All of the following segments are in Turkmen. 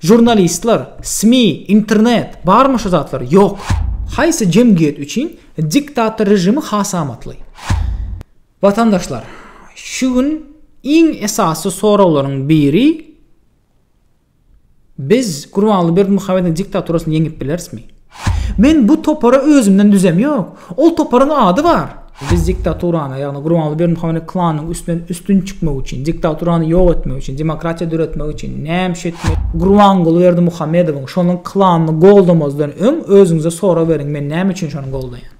Žurnalistler, SMI, internet, barmy şu zatlar? Ýok. Haýsy jemgyýet üçin diktator režimi has amatly? Watandaşlar, şu gün iň esasy soraglaryň biri, biz Gurbanguly Berdimuhamedowyň diktaturasyny ýeňip bilerismi? Men bu topary özümden düzem ýok. Ol toparyň ady bar. Biz diktaturany, ýagny Gurbanguly Berdimuhamedow klanynyň üstünden üstün çykmak üçin, diktaturany ýok etmek üçin, demokratiýa döretmek üçin näme iş etmeli? Gurbanguly Berdimuhamedowyň, şonuň klanyny goldamazdan öň özüňize sorag beriň, men näme üçin şony goldaýan?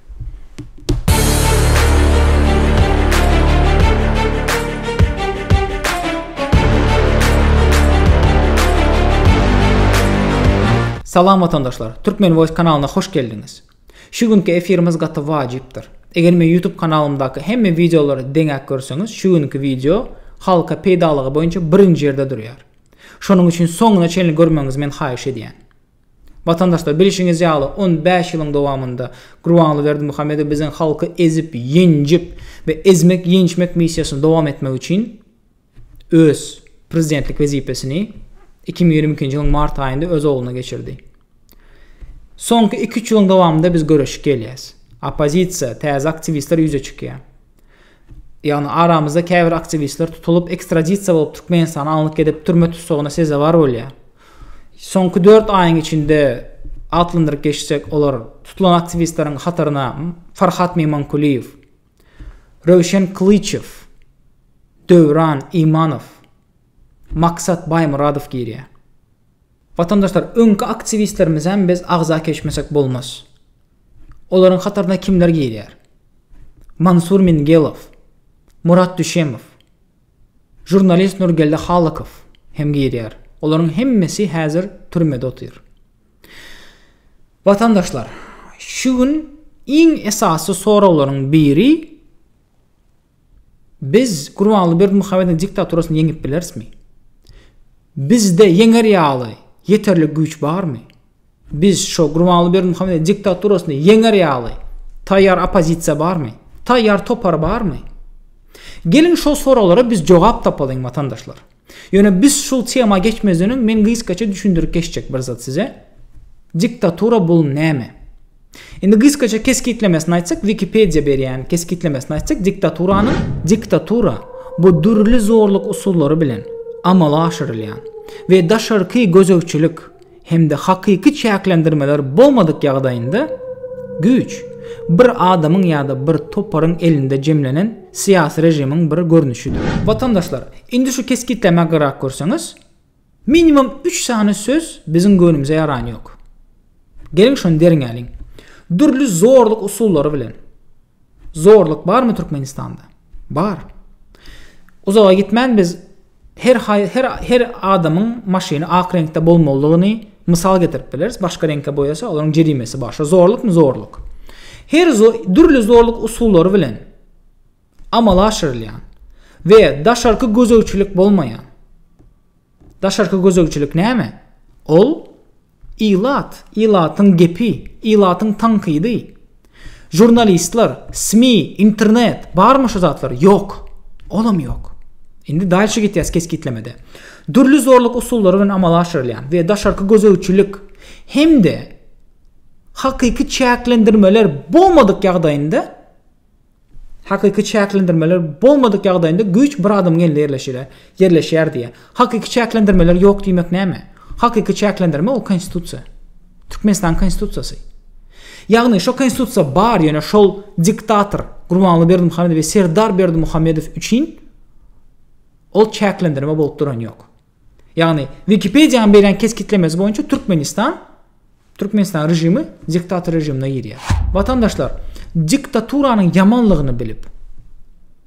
Salam watandaşlar, Türkmen Voice kanalyna hoş geldiňiz. Şu günki efirimiz gaty wajypdyr. Eger men YouTube kanalymdaky hemme videolary deňäp görseňiz, şu günki video halka peýdalygy boýunça birinji ýerde durýar. Şonuň üçin soňuna çenli görmegiňizi men haýyş edýän. Watandaşlar, bilşiňiz ýaly, on bäş ýylyň dowamynda Gurbanguly Berdimuhamedow biziň halky ezip, ýenjip we ezmek-ýençmek missiýasyny dowam etmek üçin öz prezidentlik wezipesini iki müň ýigrimi ikinji ýylyň mart aýynda öz ogluna geçirdi. Soňky iki-üç ýylyň dowamynda biz göreşip gelýäs. Oppozisiýa, täze aktiwistler ýüze çykýar. Ýagny aramyzda käbir aktiwistler tutulyp ekstradisiýa bolup Türkmenistana alnyp gidip türme tussagyna sezewar bolýar. Soňky dört aýyň içinde atlandyryp geçsek olar tutulan aktiwistleriň hataryna Farhat Memankulyýew, Röwşen Kylyçow, Döwran Imanow, Maksat Baýmyradow girýär. Watandaşlar öňki aktiwistlerimizem biz agza keşmesek bolmaz. Olaryň hataryna kimler girýär? Mansur Mingelow, Murat Düşemow, žurnalist Nurgeldi Halykow hem girýär. Olaryň hemmesi häzir türmede otyr. Watandaşlar, şu gün iň esasy soraglaryň biri Biz Gurbanguly Berdimuhamedowyň diktaturasyny ýeňip bilerismi? Bizde ýeňer ýaly ýeterlik güýç barmy? Biz şo Gurbanguly Berdimuhamedowyň diktaturasyny ýeňer ýaly taýýar oppozisiýa barmy? Taýýar topar barmy? Geliň şo soraglara biz jogap tapalyň watandaşlar. Ýöne biz şul tema geçmezden öň men gysgaça düşündirip geçjek bir zat size. Diktatura bul näme? Indi gysgaça kesgitlemesini aýtsak Wikipedia berýän kesgitlemesini aýtsak diktaturanyň Diktatura bu dürli zorluk usullary bilen amala aşyrylýan we daşarky gözegçilik hem-de hakyky çäklendirmeler bolmadyk ýagdaýynda güýç bir adamyň ýa-da bir toparyň elinde jemlenen syýasy režimiň bir görnüşidir. Watandaşlar, indi şu kesgitlemäge garak görseňiz, minimum üç sany söz biziň göwnümize ýaran ýok. Geliň şony derňäliň. Dürli zorluk usullary bilen. Zorluk barmy Türkmenistanda? Bar. Uzaga gitmän biz her her her adamyň maşyny ak reňkde bolmalydygyny mysal getirip bileris. Başga reňke boýasa, olaryň jerimesi bar. Şo zorlukmy? Zorluk. Her zo dürli zorluk usullary bilen amala aşyrylýan we daşarky gözegçilik bolmaýan Daşarky gözegçilik näme? Ol, ilat, ilatyň gepi, ilatyň tankydy. Žurnalistler, SMI, internet, barmy şu zatlar? Ýok. Olam ýok. Indi dalşy gitýäs kesgitlemede. Dürli zorluk usullary bilen amala aşyrylýan we daşarky gözegçilik hem-de hakyky çäklendirmeler bolmadyk ýagdaýynda, Hakyky çäklendirmeler bolmadyk ýagdaýynda güýç bir adamyň elinde ýerleşýär, ýerleşýär diýýär. Hakyky çäklendirmeler ýok diýmek näme? Hakyky çäklendirme o konstitusiýa. Türkmenistanyň konstitusiýasy. Ýagny şo konstitusiýa bar ýöne şol diktator Gurbanguly Berdimuhamedow we Serdar Berdimuhamedow üçin ol çäklendirme bolup duran ýok. Ýagny, Wikipediýanyň berýän kesgitlemesi boýunça Türkmenistan Türkmenistan režimi diktator režimine girýär. Watandaşlar, diktaturanyň ýamanlygyny bilip,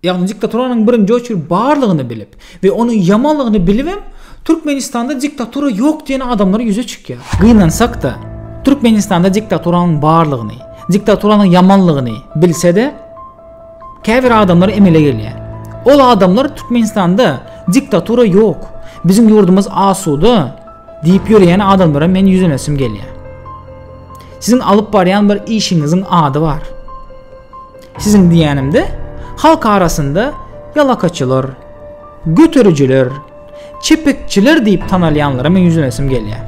ýagny diktaturanyň birinji oçur barlygyny bilip we onuň ýamanlygyny bilip hem Türkmenistanda diktatura ýok diýen adamlar ýüze çykýar. Gynansak-da, Türkmenistanda diktaturanyň barlygyny, diktaturanyň ýamanlygyny bilse-de, Käbir adamlar emele gelýär. Ol adamlar Türkmenistanda diktatura ýok. Biziň ýurdumyz asuda diýip ýöreýän adamlara men ýüzlenesim gelýär. Siziň alyp barýan bir işiňiziň ady bar. Siziň diýenimde halk arasynda ýalakaçylar, göterijiler, Çepekçiler diýip tanalýanlara men ýüzlenesim gelýär.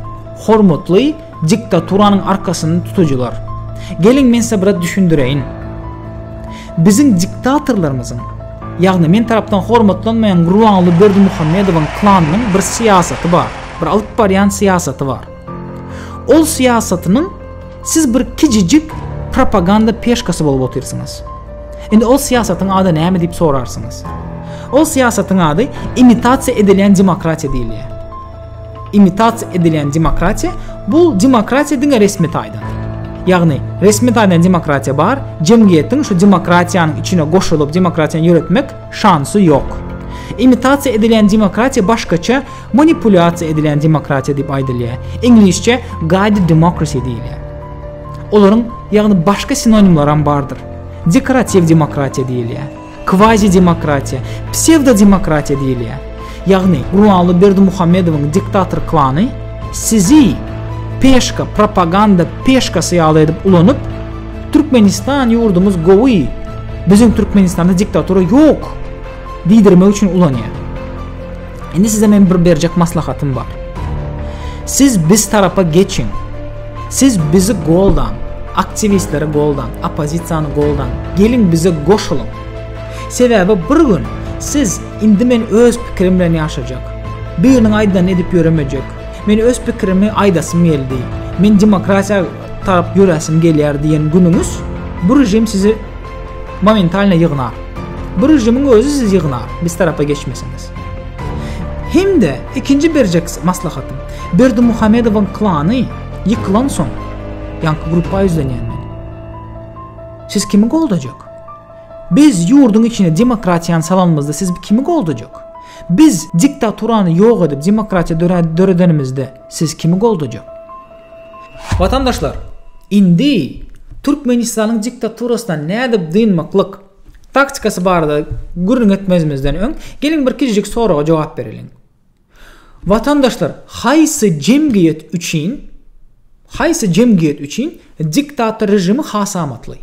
Hormatly diktaturanyň arkasyny tutujylar. Geliň men size biraz düşündireýin. Biziň diktatorlarymyzyň, ýagny men tarapdan hormatlanmaýan Gurbanguly Berdimuhamedowyň klanynyň bir syýasaty bar, bir alyp barýan syýasaty bar. Ol syýasatynyň siz bir kijijik propaganda peşkasy bolup otyrsyňyz. Indi ol syýasatyň ady näme diýip sorarsyňyz. Ol syýasatyň ady imitasiýa edilýän demokratiýa diýilýär. Imitasiýa edilýän demokratiýa bu demokratiýa diňe resmi taýdan. Ýagny resmi taýdan demokratiýa bar, jemgyýetiň şu demokratiýanyň içine goşulyp demokratiýany ýöretmek şansy ýok. Imitasiýa edilýän demokratiýa başgaça Manipulýasiýa edilen demokratiýa diýip aýdylýar. Iňlisçe guided democracy diýilýär. Olaryň, ýagny başga sinonimlaram bardyr. Dekoratiw demokratiýa diýilýär. Kvazi-demokratiýa, psewdodemokratiýa diýilýär. Ýagny Gurbanguly Berdimuhamedowyň diktator klany sizi peşka, propaganda peşkasy ýaly edip ulanyp, Türkmenistan ýurdumyz gowy, biziň Türkmenistanda diktatura ýok diýdirmek üçin ulanýar. Indi size men bir berjek maslahatym bar. Siz biz tarapa geçiň. Siz bizi goldaň, aktiwistleri goldaň, oppozisiýany goldaň. Geliň bize goşulyň. Sebäbi bir gün siz indi men öz pikirim bilen ýaşajak. Biriniň aýdanyny edip ýöremejek. Men öz pikirimi aýdasym geldi. Men demokratiýa tarap ýöräsim gelýär diýen günüňiz bu režim sizi Momentalno ýygnar. Bu režimiň özi sizi ýygnar, biz tarapa geçmeseniz. Hem-de ikinji berjek maslahatym, Berdimuhamedowyň klany ýykylansoň, ýaňky gruppa ýüzlenýän men. Siz kimi goldajak? Biz ýurduň içine demokratiýany salanymyzda siz kimi goldajak? Biz diktaturany ýok edip demokratiýa döredenimizde siz kimi goldajak? Watandaşlar, indi Türkmenistanyň diktaturasyna nädip dynmaklyk taktikasy barada gürrüň etmezimizden öň, geliň bir kiçijik soraga jogap bereliň. Watandaşlar, haýsy jemgyýet üçin, haýsy jemgyýet üçin diktator režimi has amatly?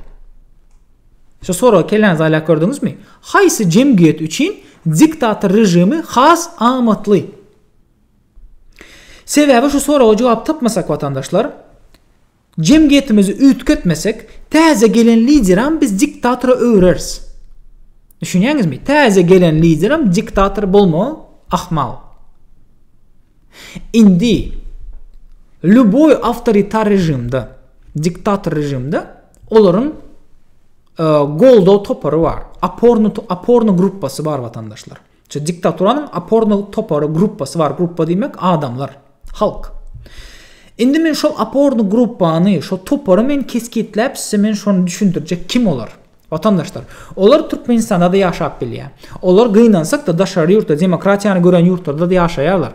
Şu soragy kelläňize aýlap gördüňizmi? Haýsy jemgyýet üçin diktator režimi has amatly? Sebäbi şu soraga jogap tapmasak watandaşlar, jemgyýetimizi üýtgetmesek, täze gelen lideram biz diktatora öwreris. Düşünýäňizmi? Täze gelen lideram diktator bolmagy ahmal. Indi lýuboý awtoritar režimde, diktator režimde olaryň goldaw topary bar, oporny oporny gruppasy bar watandaşlar. Şu diktaturanyň opornow topary, gruppasy bar, gruppa diýmek adamlar, halk. Indi men şol oporny gruppany, şo topary men kesgitläp size men şony düşündirjek kim olar? Watandaşlar, olar Türkmenistanda-da ýaşap bilýär. Olar gynansak-da daşary ýurtda demokratiýany gören ýurtlarda-da ýaşaýarlar.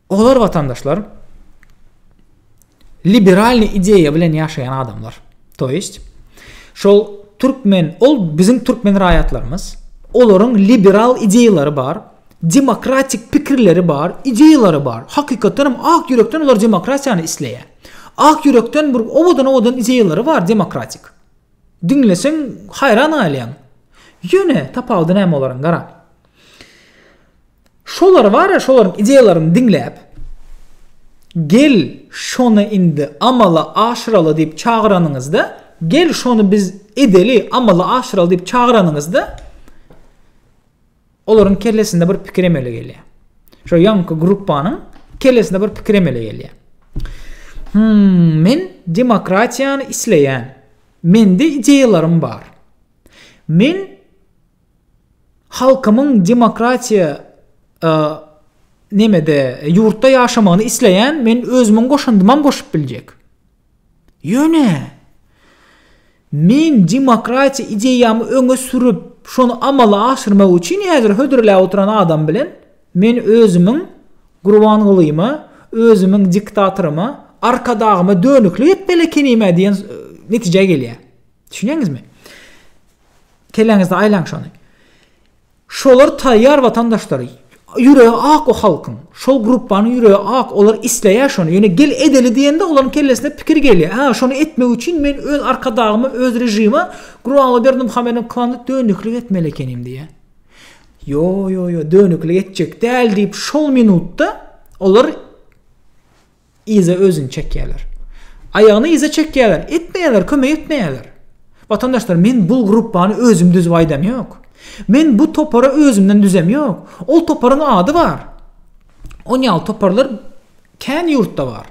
Olar watandaşlar liberalny ideýa bilen ýaşaýan adamlar. To ýeşt, şol türkmen, ol biziň türkmen raýatlarymyz, olaryň liberal ideýalary bar, demokratik pikirleri bar, ideýalary bar. Hakykatdan hem ak ýürekden olar demokratiýany isleýär. Ak ýürekden bir owadan-owadan ideýalary bar demokratik. Diňleseň haýran galýaň. Ýöne tapawudy näme olaryň gara. Şolar bar ya şolaryň ideýalaryny diňläp, gel şony indi amala aşyraly diýip çagyranyňyzda, gel şony biz edeli, amala aşyraly diýip çagyranyňyzda, olaryň kellesinde bir pikir emele gelýär. Şo ýanky gruppanyň kellesinde bir pikir emele gelýär. Hmm, men demokratiýany isleýän. Mende ideýalarym bar. Men Halkymyň demokratiýa e, nemede, ýurtda ýaşamagyny isleýän men özümiň goşandymam goşup biljek. Ýöne men demokratiýa ideýamy öňe sürüp, şony amala aşyrmak üçin häzir hödürläp oturan adam bilen men özümiň Gurbangulyma, özümiň diktatoryma, arkadagyma dönüklik etmeli ekenime diýen e, netijä gelýär. Düşünýäňizmi? Keleňizde aýlaň şony. Şolar taýýar watandaşlar. Ýüregi ak o halkyň. Şol gruppanyň ýüregi ak, olar isleýär şony. Ýöne gel edeli diýende olaryň kellesine pikir gelýär. Hä, şony etmek üçin men öz arkadagyma, öz režime Gurbanguly Berdimuhamedowyň klandy dönüklik etmeli ekenim diýýär. Ýo, ýo, ýo, dönüklik etjek däl diýip şol minutda olar Yza özüni çekýärler. Aýagyny yza çekýärler. Etmeýärler, kömek etmeýärler. Watandaşlar, men bul gruppany özüm düzüp aýdam ýok. Men bu topary özümden düzem ýok. Ol toparyň ady bar. On ýaly toparlar kän ýurtda bar.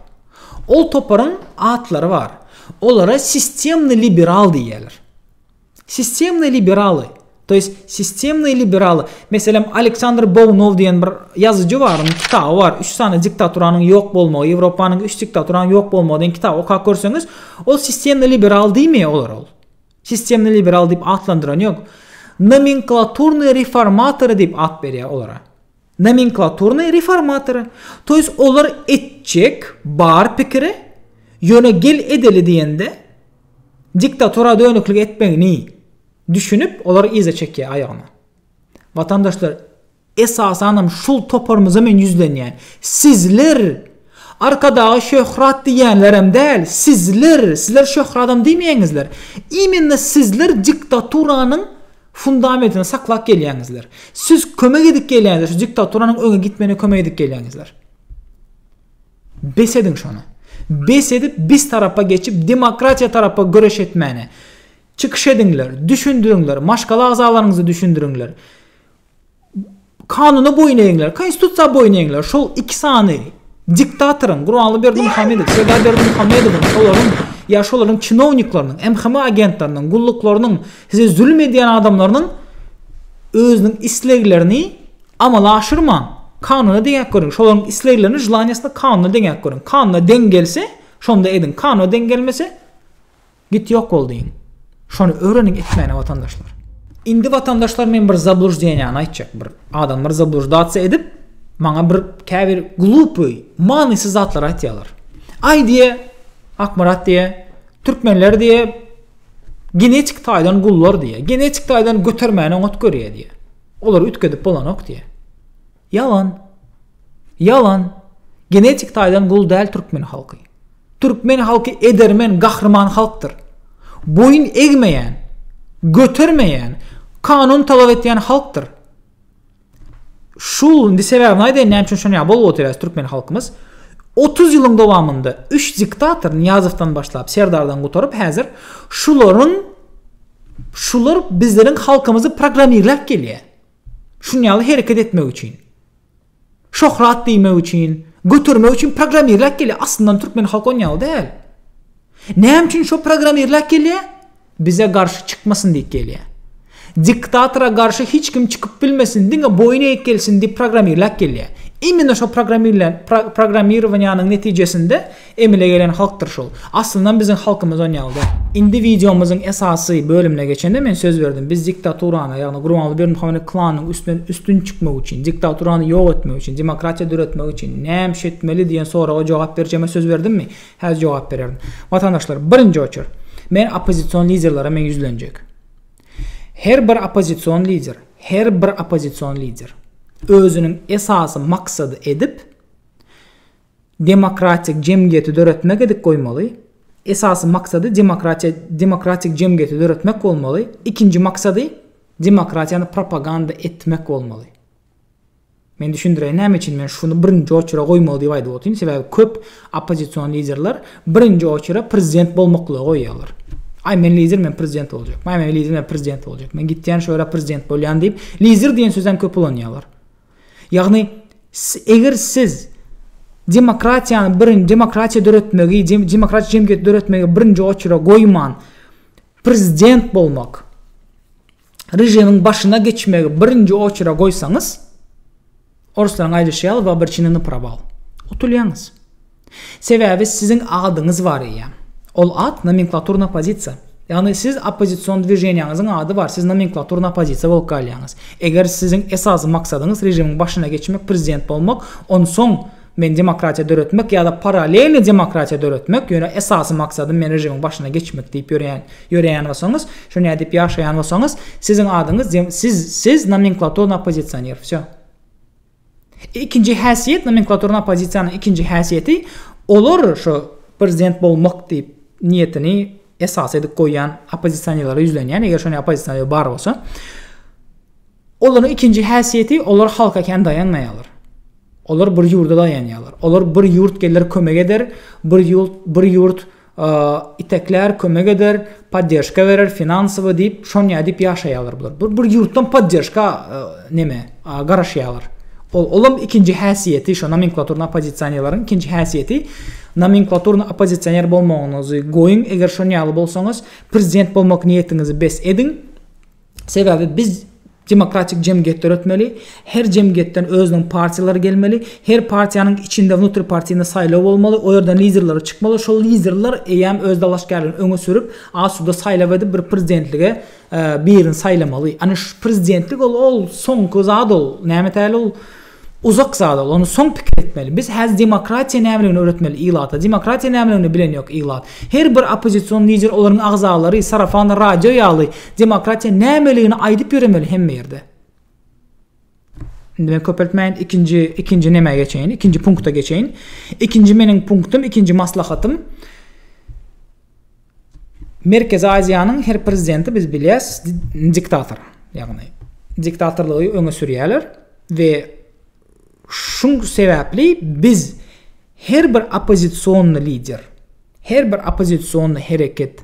Ol toparyň atlary bar. Olara sistemny liberal diýýärler. Sistemnyý liberaly, to ýest sistemnyý liberaly, meselem Aleksandr Bownow diýen bir ýazyjy bar, onuň kitaby bar, üç sany diktaturanyň ýok bolmagy, Ýewropanyň üç diktaturanyň ýok bolmagy diýen kitaby okap görseňiz, ol sistemnyý liberal diýmeýär olar ol. Sistemnyý liberal diýip atlandyrany ýok. Nomenklaturnyý reformatory diýip at berýär olara. Nomenklaturnaý reformatory, to ýes olar etjek bar pikiri, ýöne gel edeli diýende, diktatura dönüklik etmegini düşünip, olar yza çekýär aýagyny. Watandaşlar, esasanam şul toparymyza men ýüzlenýän. Sizler, Arkadaga şöhrat diýýänlerem däl, sizler, sizler şöhradam diýmeýäňizler, immenne sizler diktaturanyň fundamentini saklap gelýäňizler. Siz kömek edip gelýäňizler, şu diktaturanyň öňe gitmegine kömek edip gelýäňizler. Bes ediň şony. Bes edip biz tarapa geçip demokratiýa tarapa göreş etmäni. Çykyş ediňler, düşündiriňler, maşgala agzalaryňyzy düşündiriňler. Kanuna boýun egiňler, Konstitusiýa boýun egiňler. Şol iki sany diktatoryň, Gurbanguly Berdimuhamedow, Serdar Berdimuhamedowyň, şolaryň ýa şolaryň çinowniklarynyň, MHM agentleriniň, gulluklarynyň, size zulum edýän adamlarynyň özüniň isleglerini amala aşyrmaň. Kanuna deňäp görüň. Şolaryň isleglerini, želaniýasyny kanuna deňäp görüň. Kanuna deň gelse, şonda ediň. Kanuna deň gelmese, Git ýok bol diýiň. Şony öwreniň etmäne watandaşlar. Indi watandaşlar men bir zablujdenýany aýtjak bir adam bir zabluždatsiýa edip maňa bir käbir glupuý manysyz zatlar aýtýarlar. Aý diýe Akmyrat diýe türkmenler diýe genetik taýdan gullar diýe genetik taýdan götermäni oňat görýär diýe. Olary üýtgedip bolanok diýe. Ýalan. Ýalan. Genetik taýdan gul däl türkmen halky. Türkmen halky edermen, gahryman halkdyr. Boýun egmeýän, götermeýän, kanun talap etýän halkdyr. Şul indi sebäbini aýdaýyn näme üçin şonýa bolup otyr türkmen halkymyz. 30 ýylyň dowamynda 3 diktator Niýazowdan başlap Serdardan gutaryp häzir şularyň şular bizleriň halkymyzy programmirläp gelýär. Şunuň ýaly hereket etmek üçin. Şöhrat diýmek üçin, götermek üçin programmirläp gelýär. Aslyndan türkmen halky onuň ýaly däl. Näme üçin şo programmirläp gelýär? Bize garşy çykmasyn diýip gelýär. Diktatora garşy hiç kim çykyp bilmesin, diňe boýun eýip gelsin diýip programmirläp gelýär. Imенно şo programmirlän programmirowaniýanyň netijesinde Emele gelen halkdyr şul. Aslyndan biziň halkymyz on ýaly däl. Indi wideomyzyň esasy bölümine geçende men söz berdim biz diktaturany ýagny Gurbanguly Berdimuhamedow klanynyň üstünden üstün çykmak üçin diktaturany ýok etmek üçin demokratiýa döretmek üçin näme şetmeli diýen soraga jogap berjegime söz berdimmi häzir jogap bererin watandaşlar birinji oçer men oppozision liderlere men ýüzlenjek her bir oppozision lider her bir oppozision lider özüniň esasy maksady edip Demokratik jemgyýeti döretmek edip goýmaly. Esasy maksady demokratiýa demokratik jemgyýeti döretmek bolmaly. Ikinji maksady demokratiýany propaganda etmek bolmaly. Men düşündireýin näme üçin men şuny birinji oçura goýmaly diýip aýdyp otyryn, sebäbi köp oppozision liderler birinji oçura prezident bolmaklygy goýýarlar. Aý men lider men prezident boljak. Aý men lider men prezident boljak. Men gitýän şu ýere prezident bolýan diýip, lider diýen sözem köp ulanýarlar. Ýagny, eger siz demokratiýany birinji demokratiýa döretmegi, demokratik jemgyýet döretmegi birinji oçura goýman, prezident bolmak, režimiň başyna geçmegi birinji oçura goýsaňyz, oruslaryň aýdyşy ýaly, w obrçeneni na prował. Utulýaňyz. Sebäbi siziň adyňyz bar eýýäm. Ol at nomenklaturna pozisiýa. Ýagny siz oppozision dwiženiýaňyzyň ady bar, siz nomenklaturna oppozitsiýa bolup galýaňyz. Eger siziň esasy maksadyňyz režimiň başyna geçmek, prezident bolmak, onsoň men demokratiýa döretmek ýa-da paralelni demokratiýa döretmek, ýöne esasy maksadym men režimiň başyna geçmek diýip ýöreýän ýöreýän bolsaňyz, şonýa diýip ýaşaýan bolsaňyz, siziň adyňyz siz siz nomenklaturna oppozisioner. Wsýo. Ikinji häsiýet, nomenklaturny oppozisiýanyň ikinji häsiýeti, olar şu prezident bolmak diýip niýetini esas edip goýýan oppozisionerlere ýüzlenýän, eger şonda oppozisioner bar bolsa, olaryň ikinji häsiýeti, olar halka kän daýanmaýarlar. Olar bir ýurda daýanýarlar. Olar bir ýurt geler kömek eder, bir ýurt, bir ýurt iteklär, kömek eder, podderžka berer, finansowy diýip, şonýa diýip ýaşaýarlar bular. Bir bir ýurtdan podderžka neme, garaşýarlar. Ol olam ikinji häsiýeti, şo nomenklaturny oppozisionerleriň ikinji häsiýeti, nomenklaturny oppozisioner bolmagyňyzy goýuň, eger şonýaly bolsaňyz, prezident bolmak niýetiňizi bes ediň. Sebäbi biz demokratik jemgyýet döretmeli, her jemgyýetden özüniň partiýalary gelmeli, her partiýanyň içinde wnutripartiyny saýlaw bolmaly, o ýerden liderleri çykmaly, şol liderler eýýäm öz dalaşgärlerini öňe sürüp, asuda saýlaw edip bir prezidentlige birini saýlamaly. Ýagny şu prezidentlik ol ol soňky zat ol, näme täli ol Uzak zadal ony soň pikir etmeli. Biz häzir demokratiýa nämeligini öwretmeli ilata. Demokratiýa nämeligini bilen ýok ilat. Her bir oppozision lider olaryň agzalary sarafan radio ýaly demokratiýa nämeligini aýdyp ýöremeli hemme ýerde. Indi men köpeltmäýin ikinji ikinji nämä geçeýin ikinji punkta geçeýin. Ikinji meniň punktum ikinji maslahatym. Merkezi Aziýanyň her prezidenti biz bilýäs diktator. Ýagny diktatorlygy öňe sürýärler we şuň sebäpli biz her bir opozisionni lider, her bir opozisionni hereket,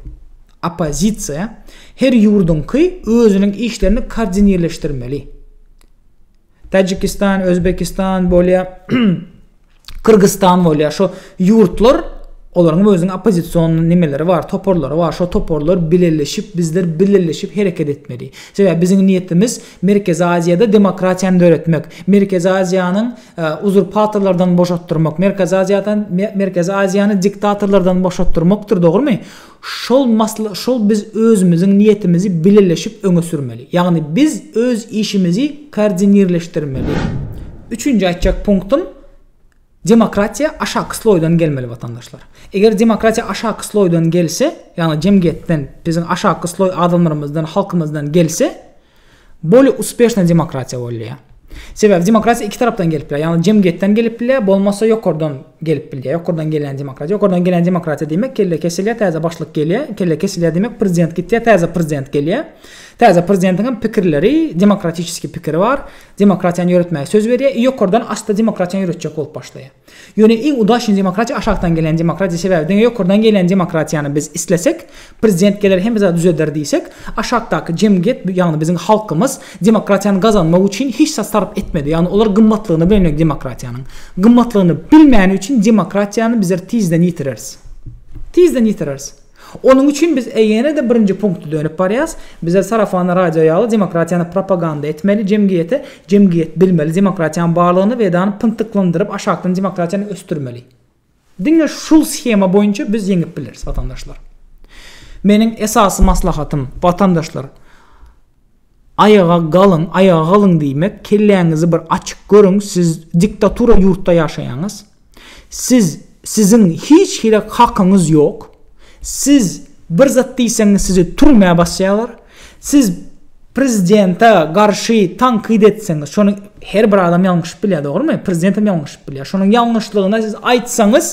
opozisiýa her ýurduňky özüniň işlerini koordinirleşdirmeli. Täjikistan, Özbekistan bolýa, Kyrgyzstan bolýa. Şo ýurtlar olaryň özüniň oppozision nimeleri bar, toparlary bar. Şo toparlar bileleşip, bizler bileleşip hereket etmeli. Sebäbi biziň niýetimiz Merkezi Aziýada demokratiýany döretmek, Merkezi Aziýanyň e, uzurpatorlardan boşatdyrmak, Merkezi Aziýadan Merkezi Aziýany diktatorlardan boşatdyrmakdyr, dogrumy? Şol masla şol biz özümiziň niýetimizi bileleşip öňe sürmeli. Ýagny biz öz işimizi koordinirleşdirmeli. Üçünji aýtjak punktym, demokratiýa aşaky sloýdan gelmeli watandaşlar. Eger demokratiýa aşaky sloýdan gelse, ýagny jemgyýetden, biziň aşaky sloý adamlarymyzdan, halkymyzdan gelse, Bolly uspeshna demokratiýa bolýa. Sebäbi demokratiýa iki tarapdan gelip bilýär. Ýagny jemgyýetden gelip bilýär, bolmasa ýokardan gelip bilýär. Ýokardan gelýän demokratiýa. Ýokardan gelýän demokratiýa diýmek kelle kesilýär, täze başlyk gelýär. Kelle kesilýär diýmek prezident gitýär, täze prezident gelýär. Täze prezidentiň hem pikirleri, demokratiçeskiý pikiri bar. Demokratiýany ýöretmäge söz berýär i ýokardan asta demokratiýany ýöretjek bolup başlaýar. Ýöne iň udaçnyý demokratiýa aşakdan gelýän demokratiýa sebäbi diňe ýokardan gelýän demokratiýany biz islesek, prezident geler hemme zady düzeder diýsek, aşakdaky jemgyýet ýagny biziň halkymyz demokratiýany gazanmak üçin hiç zat sarp etmedi, ýagny olar gymmatlygyny bilmedi demokratiýanyň. Gymmatlygyny bilmäni üçin demokratiýany bizler tizden ýitireris. Tizden ýitireris. Onuň üçin biz ýene-de birinji punkta dönüp barýarys, bize sarafan radio ýaly demokratiýany propaganda etmeli, jemgyýete, jemgyýet bilmeli demokratiýanyň barlygyny we edany pyntyklandyryp aşakdan demokratiýany ösdürmeli. Diňe şul shema boýunça biz ýeňip bileris watandaşlar. Meniň esasy maslahatym, watandaşlar, Aýaga galyň aýaga galyň diýmek kelläňizi bir açyp görüň siz diktatura ýurtda ýaşaýaňyz siz siziň hiç hili hakyňyz ýok siz bir zat diýseňiz sizi türmä basýalar siz prezidente garşy tankyt etseňiz şony her bir adam ýalňyşyp bilýär dogrymy prezidentem ýalňyşyp bilýär şonuň ýalňyşlygyna siz aýtsaňyz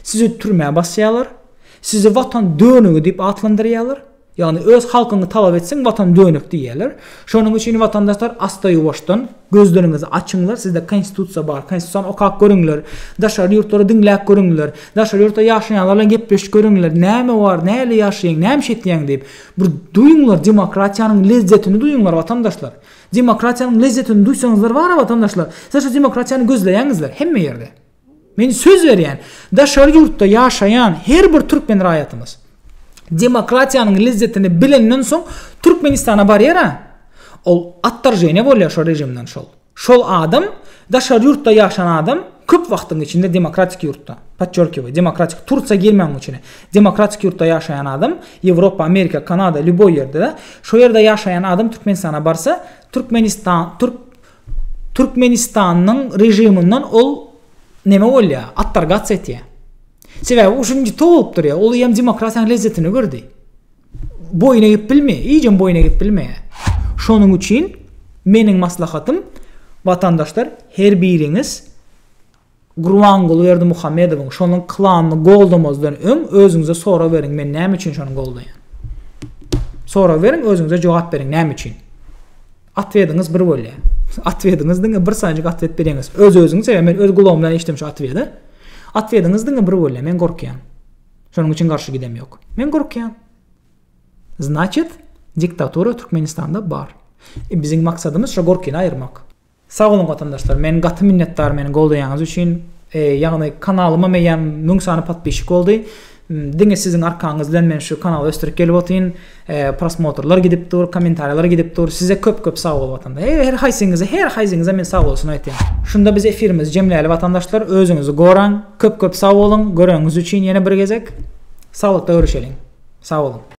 sizi türmä basýalar sizi watan dönügi diýip atlandyrýalar. Ýagny öz halkyňy talap etseň watan dönek diýýärler. Şonuň üçin watandaşlar asta-ýuwaşdan gözleriňizi açyňlar, sizde konstitusiýa bar, konstitusiýany okap görüňler, daşary ýurtlary diňläp görüňler, daşary ýurtda ýaşaýanlar bilen gepleşip görüňler, näme bar, näle ýaşaýaň, näme iş etýäň diýip. Bir duýuňlar demokratiýanyň lezzetini duýuňlar watandaşlar. Demokratiýanyň lezzetini duýsaňyzlar bara watandaşlar, sizler şu demokratiýany gözleýäňizler hemme ýerde. Men söz berýän, daşary ýurtda ýaşaýan her bir türkmen raýatymyz demokratiýanyň lezzetini bilenden soň Türkmenistana barýar-a, ol ottorženýe bolýar şol režimden şol. Şol adam, daşary ýurtda ýaşan adam köp wagtyň içinde demokratik ýurtda, podçerkiwaýu, demokratik, Tursiýa girmäň munuň içine, demokratik ýurtda ýaşaýan adam, Ýewropa, Amerika, Kanada, lýuboý ýerde-de, şo ýerde ýaşaýan adam Türkmenistana barsa, Türkmenistan, türk, Türkmenistanyň režiminden ol neme bolýa, ottorgatsiýa etýä. Sebäbi uşuň ýiti bolup durýa, ol ýem demokratiýanyň lezzetini gördi. Boýun egip bilmeýä, iýjem boýun egip bilmeýä. Şonuň üçin meniň maslahatym, watandaşlar, her biriňiz Gurbanguly Berdimuhamedowyň şonuň klanyny goldamazdan öň özüňize sorag beriň men näme üçin şony goldaýan? Sorag beriň özüňize jogap beriň näme üçin? Atwediňiz bir bolýa. Atwediňiz diňe bir sanyjyk atwet bereňiz. Öz özüňiz sebäp men öz gulagym bilen eşitdim şu atwedi. Atwediňiz diňe bir bolýa men gorkýan. Şonuň üçin garşy gidem ýok. Men gorkýan. Znaçet diktatura Türkmenistanda bar. E, biziň maksadymyz şu gorkyny aýyrmak. Sag boluň watandaşlar men gaty minnetdar meni goldaýanyz üçin ýagny kanalyma meýem müň sany podpişik boldy diňe siziň arkaňyz bilen men şu kanaly ösdürip gelip otyryn prosmotrlar gidip dur komentarýalar gidip dur size köp köp sag bol watanda her haýsyňyza her haýsyňyza men sag bolsun aýtýan şunda biz efirimizi jemläli watandaşlar özüňizi goraň köp köp sag boluň göreniňiz üçin ýene bir gezek saglykda görüşeliň sag boluň.